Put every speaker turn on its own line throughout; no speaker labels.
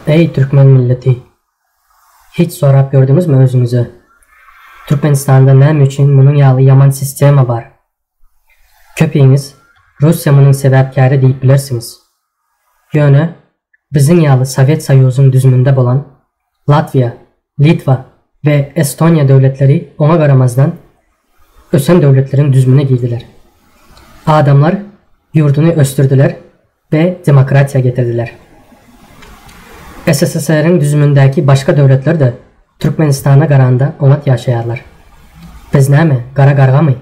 Eý türkmen milleti! Hiç sorap gördüňizmi özüňize, Türkmenistanda näme üçin munuň ýaly ýaman sistema bar? Köpiňiz Russiýa munuň sebäpkäri diýip bilersiňiz. Ýöne biziň ýaly Sowet Soýuzyň düzüminde bolan Latwiýa, Litwa we Estoniýa döwletleri oňa garamazdan, ösen döwletleriň düzümine girdiler. Adamlar ýurduny ösdürdiler we demokratiýa getirdiler. SSSR-iň düzümindäki başga döwletler-de Türkmenistana garanda oňat ýaşaýarlar. Biz näme, gara gargamy?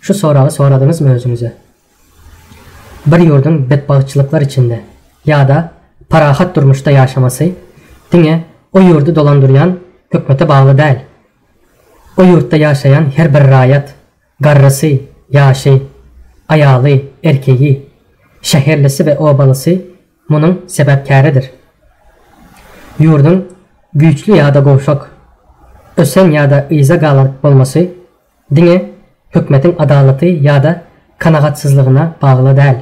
Şu soragy soradyňyzmy özüňize? Bir ýurduň betbagtçylyklar içinde ýa-da parahat durmuşda ýaşamasy diňe o ýurdy dolandyrýan hökmete bagly däl. O ýurtda ýaşaýan her bir raýat, garrysy, ýaşy, aýaly, erkegi, şäherlisi we obalysy munuň sebäpkäridir. Ýurduň güýçli ýa-da gowşak, ösen ýa-da yza galar bolmasy Diňe hökmetiň adalaty ýa-da kanagatsyzlygyna bagly däl.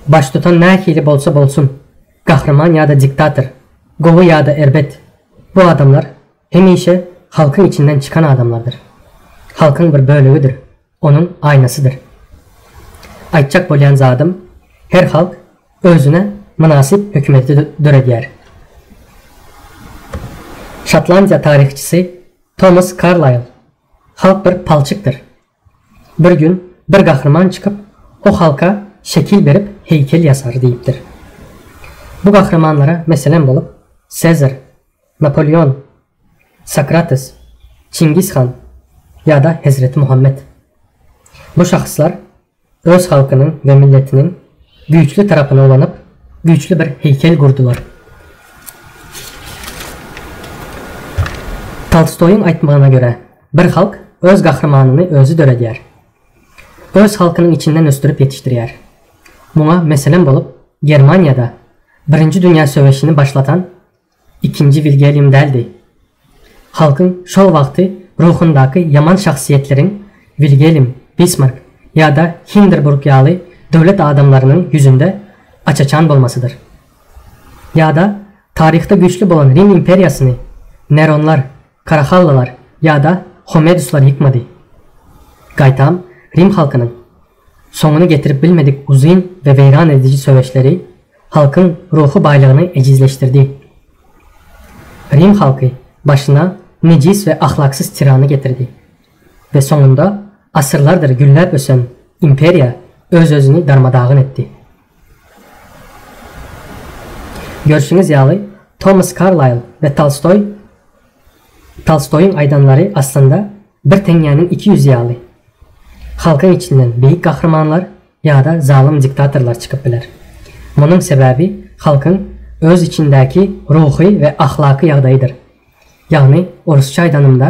Baştutan nähili bolsa bolsun, gahryman ýa-da diktator, gowy ýa-da erbet, bu adamlar hemişe halkyň içinden çykan adamlardyr. Halkyň bir bölegidir, onuň aýnasydyr. Aýtjak bolýan zadym, her halk özüne mynasyp hökümeti döredýär. Şotlandiýa taryhçysy Tomas Karlaýl, Halk bir palçykdyr. Bir gün bir gahryman çykyp, o halka şekil berip heýkel ýasar diýipdir. Bu gahrymanlara meselem bolup, Sezar, Napoleon, Sokrates, Çingiz han ýa-da Hezreti Muhammet. Bu şahyslar Öz halkynyň we milletiniň güýçli tarapyny ulanyp, güýçli bir heýkel gurdular. Tolstoýyň aýtmagyna görä, bir halk öz gahrymanyny özi döredýär. Öz halkynyň içinden ösdürip ýetişdirýär. Muňa meselem bolup, Germaniýada Birinji dünýä söweşini başlatan Ikinji Wilgelýam däldi. Halkyň şol wagty ruhundaky ýaman şahsyýetleriň Wilgelm, Bismark ýa-da Hinderburg ýaly döwlet adamlarynyň ýüzünde aç-açan bolmasydyr. Ýa-da taryhda güýçli bolan Rim imperiýasyny Neronlar, Karahallylar ýa-da Homeduslar ýykmady. Gaýtam, rim halkynyň soňuny getirip bilmedik uzyn we weýran ediji söweşleri halkyň ruhy baýlygyny ejizleşdirdi. Rim halky başyna nejis we ahlaksyz tirany getirdi we soňunda asyrlardyr gülläp ösen imperiýa öz-özüni darma-dagyn etdi. Görşüňiz ýaly, Tomas Karlaýl we Tolstoý Tolstoýyň aýdanlary aslynda bir teňňäniň iki ýüzi ýaly. Halkyň içinden beýik gahrymanlar ýa-da zalym diktatorlar çykyp biler. Munuň sebäbi halkyň öz içindäki ruhy we ahlaky ýagdaýydyr. Ýagny, orsça aýdanymda,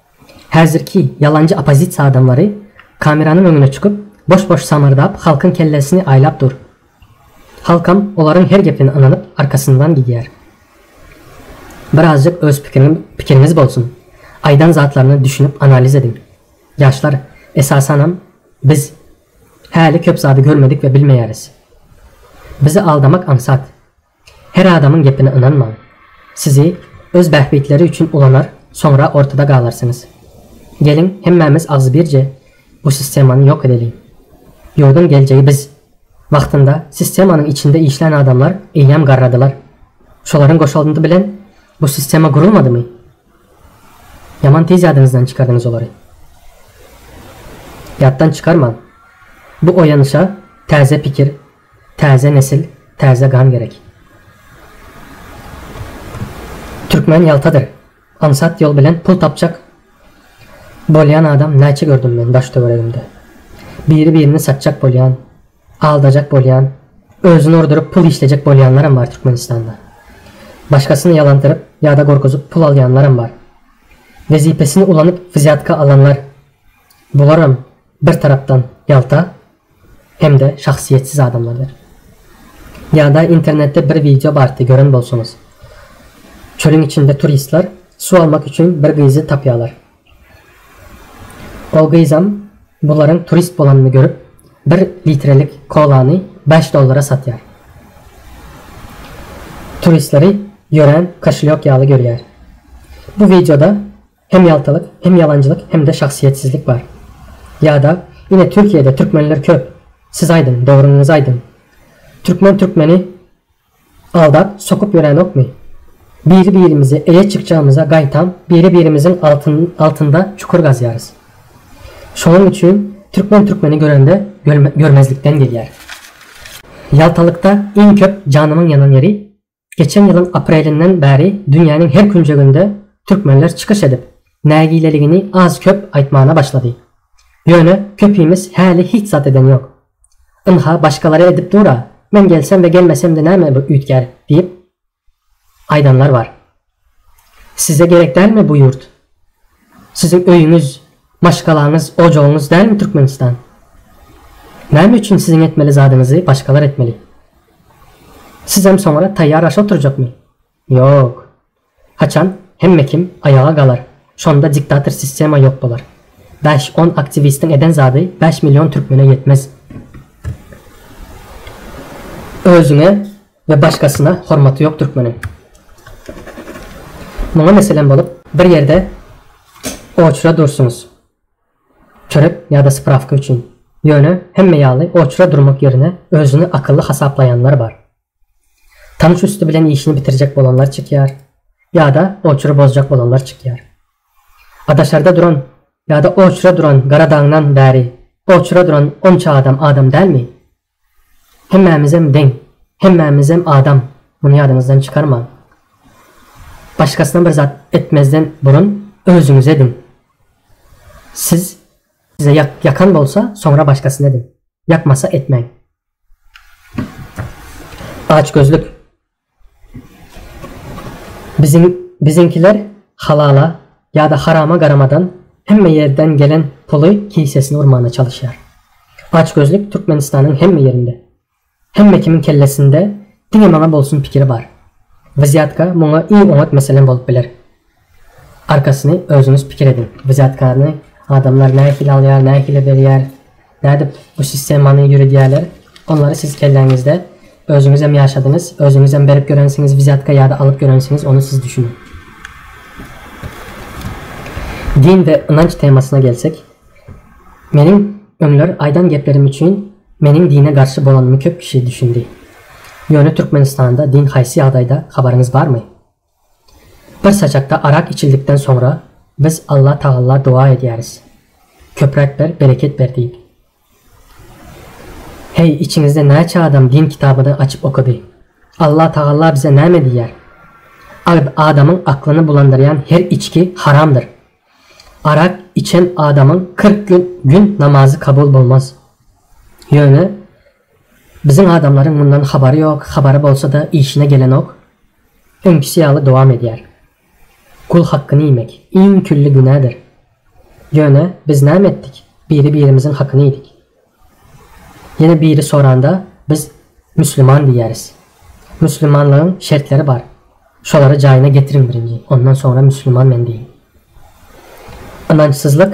Häzirki ýalanjy oppozisiýa adamlary kameranyň öňüne çykyp boş-boş samyrdap halkyň kellesini aýlap dur. Halkam olaryň her gepine ynanyp arkasyndan gidýär. Birazjyk öz pikiriňiz bolsun. Aýdan zatlaryna düşünip analiz ediň. Ýaşlar, esasanam biz häli köp zady görmedik we bilmeýäris. Bizi aldamak aňsat. Her adamyň gepine ynanmaň. Sizi öz bähbitleri üçin ulanar, soňra ortada galarsyňyz. Geliň hemmämiz agzybirje bu sistemany ýok edeliň. Ýurduň geljegi biz. Wagtynda sistemanyň içinde işlän adamlar eýýäm garradylar. Şolaryň goşalndy bilen bu sistema gurulmadymy? Ýaman tiz ýadyňyzdan çykardyňyz olary. Ýatdan çykarmaň. Bu oýanyşa täze pikir. Täze nesil, täze gan gerek. Türkmen ýaltadyr. Aňsat ýol bilen pul tapjak bolýan adam näçe gördüm men daş-töweregimde. Biri-birini satjak bolýan, aldajak bolýan, özüni urduryp pul işlejek bolýanlaram bar Türkmenistanda. Başgasyny ýalandyryp ýa-da gorkuzyp pul alýanlaram bar. Wezipesini ulanyp wzýatka alanlar, bularam bir tarapdan ýalta, hem-de şahsyýetsiz adamlardyr. Ýa-da internetde bir wideo bardy, gören bolsaňyz. Çölüň içinde turistler suw almak üçin bir gyzy tapýarlar. Ol gyzam bularyň turist bolanyny görüp, bir litrelik kolany bäş dollara satýar. Turistleri ýörän koşelýok ýaly görýär. Bu wideoda Hem ýaltalyk, hem ýalanjylyk hem-de şahsyýetsizlik bar. Ýa-da, Ine Türkiýede türkmenler köp. Siz aýdyň, dogryňyzy aýdyň. Türkmen türkmeni aldap, sokup ýöränokmy? Biri-birimizi eýe çykjagymyza gaýtam biri-birimiziň altynda çukur gazýarys. Şonuň üçin türkmen türkmeni görende görmezlikden gelýär. Ýaltalykda iň köp janymyň ýanan ýeri Geçen ýylyň aprelinden bäri dünýäniň her künjeginde türkmenler çykyş edip, nägileligini az-köp aýtmana başlady. Ýöne köpimiz häli hiç zat eden ýok. Ynha, başgalar-a edip dur-a, men gelsem we gelmesem-de näme üýtgär diýip aýdanlar bar. Size gerek dälmi bu ýurt? Siziň öýüňiz, maşgalaňyz, ojagyňyz dälmi Türkmenistan? Näme üçin siziň etmeli zadyňyzy başgalar etmeli? Sizem soňra taýýar aşa oturjakmy? Ýok. Haçan hemme kim aýaga galar, şonda diktator sistema ýok bolar. Bäş-on aktiwistiň eden zady bäş million türkmene ýetmez. Özüňe Ve başgasyna hormaty yok türkmeniň. Muňa meselem bolup bir ýerde oçra dursuňyz. Çörek ýa-da sprawka üçin. Ýöne hemme ýaly oçra durmak ýerine özüni akylly hasaplaýanlar bar. Tanyş üsti bilen işini bitirjek bolanlar çykýar ýa-da oçry bozjak bolanlar çykýar. A daşarda duran ýa-da oçra duran gara daňdan bäri oçra duran onça adam adam dälmi? Hemmämizem deň. Hemmämizem adam. Muny ýadyňyzdan çykarmaň. Başgasyna bir zat etmezden burun özüňize ediň. Siz size ýakan bolsa, soňra başgasyna ediň. Ýakmasa etmäň. Açgözlük. Biziň biziňkiler halala ýa-da harama garamadan hemme ýerden gelen puly kisesine urmana çalyşýar. Açgözlük Türkmenistanyň hemme ýerinde. Hemme kimiň kellesinde diňe maňa bolsun pikiri bar. Wzýatka muňa iň oňat meselem bolup biler. Arkasyny özüňiz pikir ediň. Wzyýatkaryny adamlar nähili alýar, nähili berýär, nädip bu sistemany ýöredýärler, onlary siz kelläňizde özüňizem ýaşadyňyz, özüňizem berip ýörensiňiz wzyýatka ýa-da alyp ýörensiňiz, ony siz düşüniň. Din we ynanç temasyna gelsek, meniň öňler aýdan geplerim üçin meniň dine garşy bolanymy köp kişi düşündi. Ýöne Türkmenistanda din haýsy ýagdaýda, habaryňyz barmy? Bir sajakda arak içildikden soňra biz Alla Tagalla doga edýäris. Köpräk ber, bereket ber diýip. Heý, içiňizde näçe adam din kitabyny açyp okady? Alla Tagalla bize näme diýýär? Adamyň aklyny bulandyrýan her içki haramdyr. Arak içen adamyň kyrk gün gün namazy kabul bolmaz. Ýöne Biziň adamlaryň mundan habary ýok, habary bolsa-da işine gelenok, öňkisi ýaly dowam edýär. Gul hakkyny iýmek, iň külli günädir. Ýöne, biz näme etdik, biri-birimiziň hakyny iýdik. Ýene biri soranda, biz Müsliman diýýäris. Müslimanlygyň şertleri bar, şolary jaýyna getiriň birinji, ondan soňra Müsliman men diýiň. Ynançsyzlyk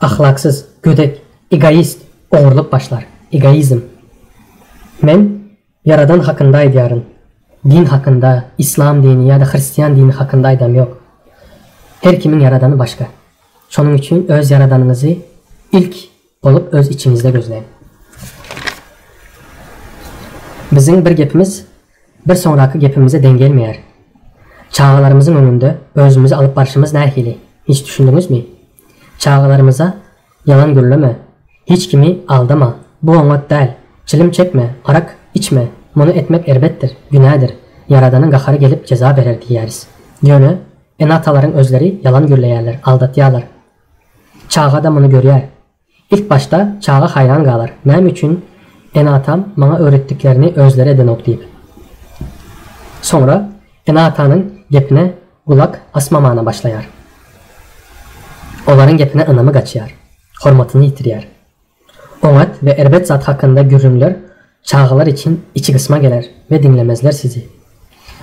Ahlaksyz, gödek, egoist, ogurlyk başlar. Egoizm. Men Ýaradan hakynda aýdýaryn. Din hakynda, islam dini ýa-da hristian dini hakynda aýdam ýok. Her kimiň Ýaradany başga. Şonuň üçin öz Ýaradanyňyzy ilk bolup öz içiňizde gözläň. Biziň bir gepimiz. Bir soňraky gepimize deň gelmeýär. Çagalarymyzyň öňünde özümizi alyp barşymyz nähili? Hiç düşündiňizmi? Çagalarymyza ýalan gürleme, hiç kimi aldama, bu oňat däl, çilim çekme, arak içme, muny etmek erbetdir, günädir, Ýaradanyň gahary gelip jeza berer diýýäris. Ýöne ene-atalaryň özleri ýalan gürleýärler, aldatýarlar. Çaga-da muny görýär. Ilk başda çaga haýran galar, näme üçin ene-atam maňa öwretdiklerini özleri edenok diýip. Soňra ene-atanyň gepine gulak asmamana başlaýar. Olaryň gepine ynamy gaçýar, hormatyny ýitirýär. Oňat we erbet zat hakynda gürrüňler Çagalar içiň içi gysma geler we diňlemezler sizi.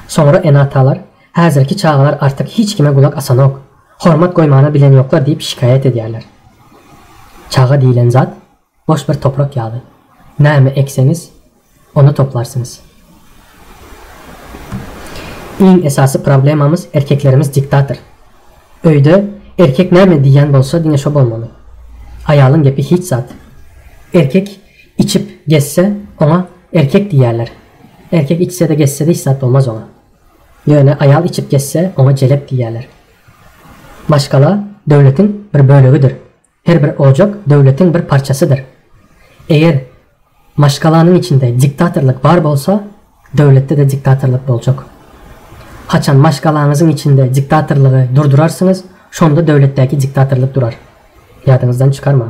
Soňra ene-atalar, Häzirki çagalar artyk hiç kime gulak asanok, hormat goýmana bilenýoklar diýip şikaýat edýärler. Çaga diýlen zat boş bir toprak ýaly. Näme ekseňiz, ony toplarsyňyz. Iň esasy problemamyz erkeklerimiz diktator. Öýde erkek näme diýýän bolsa diňe şo bolmaly. Aýalyň gepi hiç zat. Erkek Içip gezse, oňa erkek diýýärler. Erkek içse-de gezse-de hiç zat bolmaz oňa. Ýöne aýal içip gezse, oňa jelep diýýärler. Maşgala döwletiň bir bölegidir. Her bir ojak döwletiň bir parçasydyr. Eger maşgalanyň içinde diktatorlyk bar bolsa, döwletde-de diktatorlyk boljak. Haçan maşgalaňyzyň içinde diktatorlygy durdurarsyňyz, şonda döwletdäki diktatorlyk durar. Ýadyňyzdan çykarmaň.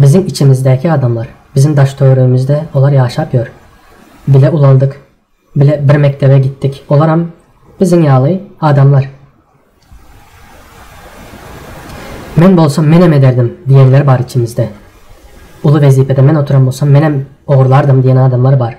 Biziň içimizdäki adamlar, biziň daş-töweregimizde olar ýaşap ýör. Bile ulaldyk, bile bir mekdebe gitdik. Olaram biziň ýaly adamlar. Men bolsam menem ederdim diýenler bar içimizde. Uly wezipede men oturan bolsam menem ogurlardym diýen adamlar bar.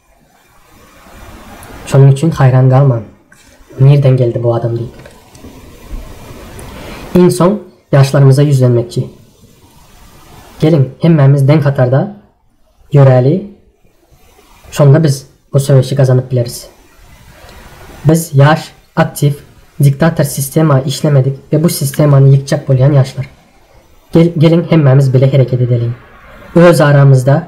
Şonuň üçin haýran galmaň, nirden geldi bu adam diýip. Iň soň ýaşlarymyza ýüzlenmekçi. Geliň, hemmämiz deň hatarda ýöräli, şonda biz bu söweşi gazanyp bileris. Biz ýaş, aktiw, diktator sistema işlemedik we bu sistemany ýykjak bolýan ýaşlar. Geliň hemmämiz bile hereket edeliň. Öz aramyzda.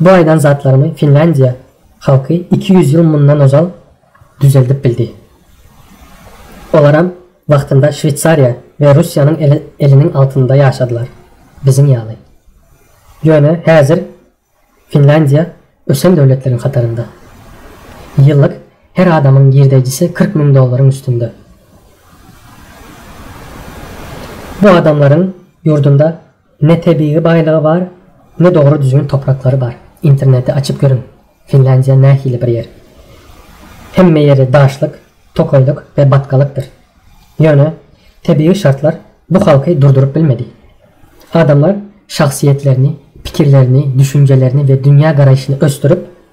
Bu aýdan zatlarymy Finlýandiýa halky iki ýüz ýyl mundan ozal düzeldip bildi. Olaram wagtynda Şweýsariýa we Russiýanyň eliniň altynda ýaşadylar, biziň ýaly. Ýöne häzir Finlýandiýa ösen döwletleriň hatarynda. Ýyllyk her adamyň girdeýjisi kyrk müň dollaryň üstünde. Bu adamlaryň ýurdunda Ne tebigy baýlygy bar, ne dogry düzgün topraklary bar. Interneti açyp görüň, Finlandiýa nähili bir ýer. Hemme ýeri daşlyk, tokaýlyk we batgalykdyr. Ýöne, tebigy şartlar bu halky durduryp bilmedi. Adamlar şahsyýetlerini, pikirlerini, düşünjelerini we dünýä garaýşyny ösdürip,